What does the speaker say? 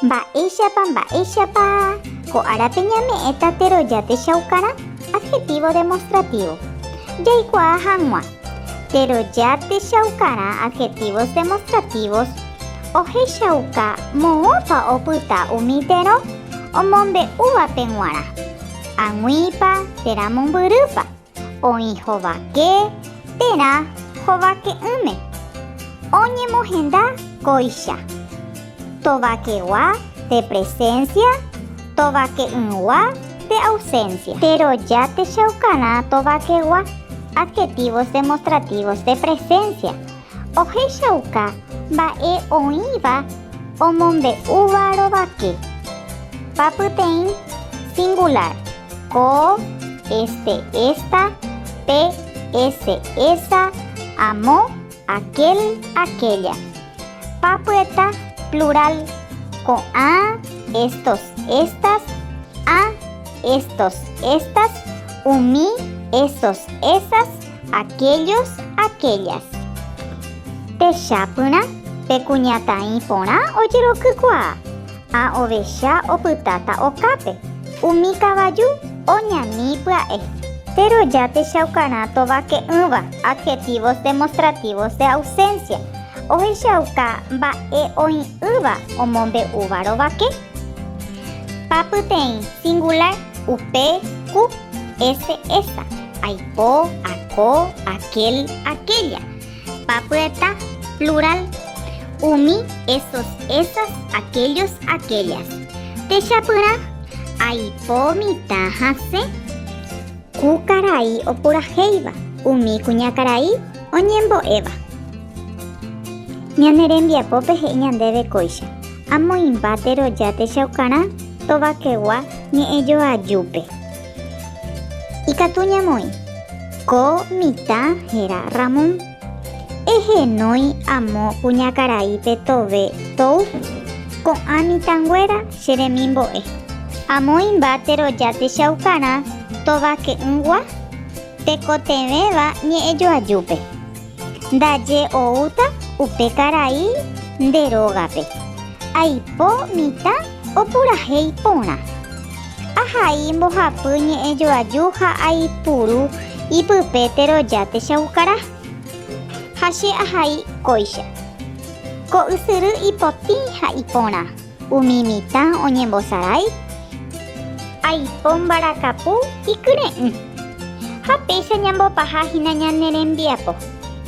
Mba'éichapa, mba'éichapa ko árape ñame'ẽta teroja techaukarã, adjetivo demostrativo. Jaikuaa hag̃ua, teroja techaukarã, adjetivos demostrativos, ohechauka moõpa opyta umi terõ omombe'úvape g̃uarã. Ag̃uípa térã mombyrýpa. Oĩ hovake térã hovake'ỹme, oñemohenda kóicha. Tovakegua de presencia, tovake'ỹgua de ausencia. Péro jatechaukarã tovakegua adjetivos demostrativos de presencia ohechauka mba'e oĩva omombe'úva rovake. Papyteĩ singular. Ko este esta pe ese esa amo aquel aquella. Papyeta plural ko'ã estos estas ã estos estas umi esos esas aquellos aquellas. Techapyrã pe kuñataĩ porã ojerokykuaa. Ha ovecha opytáta okápe, umi kavaju oñani pya'e. Péro ja techaukarã tovake'ỹva adjetivos demostrativos de ausencia, ohechauka mba'e oĩ'ỹva omombe'úva rovake. Pa pyteĩ singular, upe, ku, ese, esa, aipo, ako, aquel, aquella, Papyeta, plural, umi, esos, esas, aquellos, aquellas. Techapyrã, Aipo mitã hasẽ. Ku karai opurahéiva, umi kuñakarai oñembo'éva. Ñane rembiapópe he'i ñandéve kóicha, Amoĩmba teroja techaukarã tovakegua ñe'ẽjoajúpe. Ikatu ñamoĩ. Ko mitã héra Ramón. Ehenói amo kuñakaraípe tove tou, ko'ã mitãnguéra che remimbo'e. Amo imba teroja techaukarã tovake'ỹgua tekotevẽva ñe'ẽjoajúpe. Ndaje oúta upe karai nde rógape. Aipo mitã opurahéi porã. Ahai mbohapy ñe'ẽ joaju ha aipuru ipype teroja techaukarã. Ha che ahai kóicha. Ko ysyry ipotĩ ha iporã. Umi mitã oñembosarái. Aipo mbarakapu ikyre'ỹ. Ha péicha ñambopaha hína ñane rembiapo.